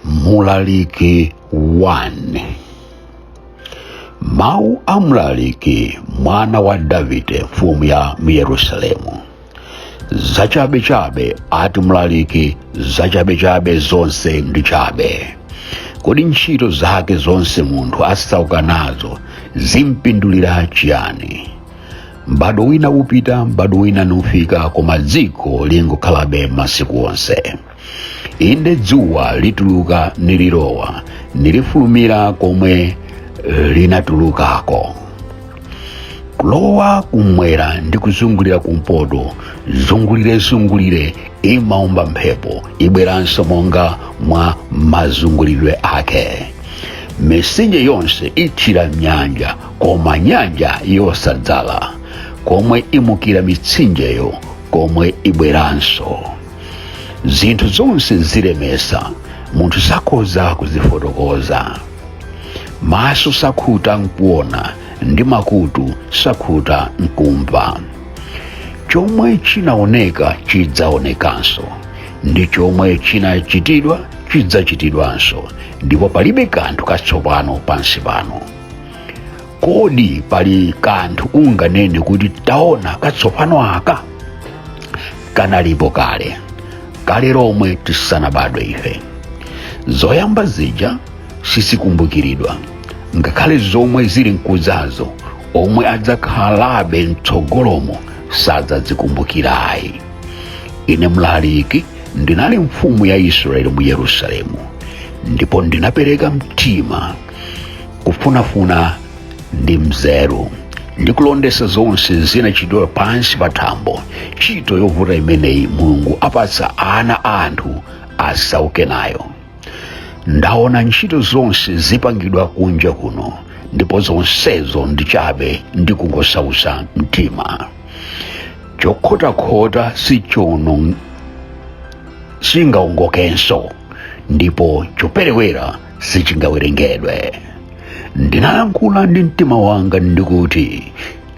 mlaliki 1 mawu a mlaliki mwana wa davide mfumu ya mu yerusalemu zachabechabe ati mlaliki zachabechabe zonse ndi chabe kodi ntchito zake zonse munthu asauka nazo zimpindulira chiyani m'badwo wina upita m'badwo wina nufika koma dziko lingokhalabe masiku onse inde dzuwa lituluka nililowa nilifulumira komwe linatulukako kulowa kumwera ndi kuzungulira kumpoto zungulirezungulire imaomba mphepo ibweranso monga mwa mazungulidwe ake mitsinje yonse ithira m'nyanja koma nyanja yosadzala komwe imukira mitsinjeyo komwe ibweranso zinthu zonse zilemesa munthu sakhoza kuzifotokoza maso sakhuta nkuona ndi makutu sakhuta nkumva chomwe chinaoneka chidzaonekanso ndi chomwe chinachitidwa chidzachitidwanso ndipo palibe kanthu katsopano pansi pano kodi pali kanthu unganene kuti taona katsopano aka kanalipo kale kale lomwe tisanabadwe ife zoyamba zija sizikumbukiridwa ngakhale zomwe zili mkudzazo omwe adzakhalabe mtsogolomo sadzazikumbukira ayi ine mlaliki ndinali mfumu ya israeli mu yerusalemu ndipo ndinapereka mtima kufunafuna ndi nzeru ndi kulondetsa zonse zinachitidwa pansi pa thambo ntchito yovuta imeneyi mulungu apatsa ana a anthu asauke nayo ndaona ntchito zonse zipangidwa kunja kuno ndipo zonsezo ndi chabe ndi kungosautsa mtima chokhotakhota sichono singaongokenso ndipo choperewera sichingawerengedwe ndinayankhula ndi mtima wanga ndi kuti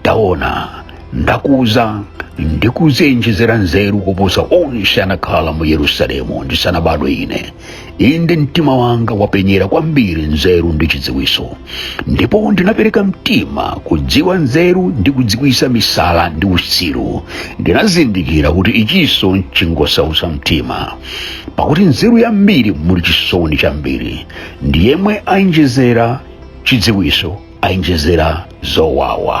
taona ndakuza ndi kudzienjezera nzeru kuposa onse anakhala mu yerusalemu ndisanabadwe ine inde mtima wanga wapenyera kwambiri nzeru ndi chidziwitso ndipo ndinapereka mtima kudziwa nzeru ndi kudziwitsa misala ndi utsiru ndinazindikira kuti ichinso chingosautsa mtima pakuti nzeru yambiri muli chisoni chambiri ndi yemwe ayinjezera chidziwiso ayinjezera zowawa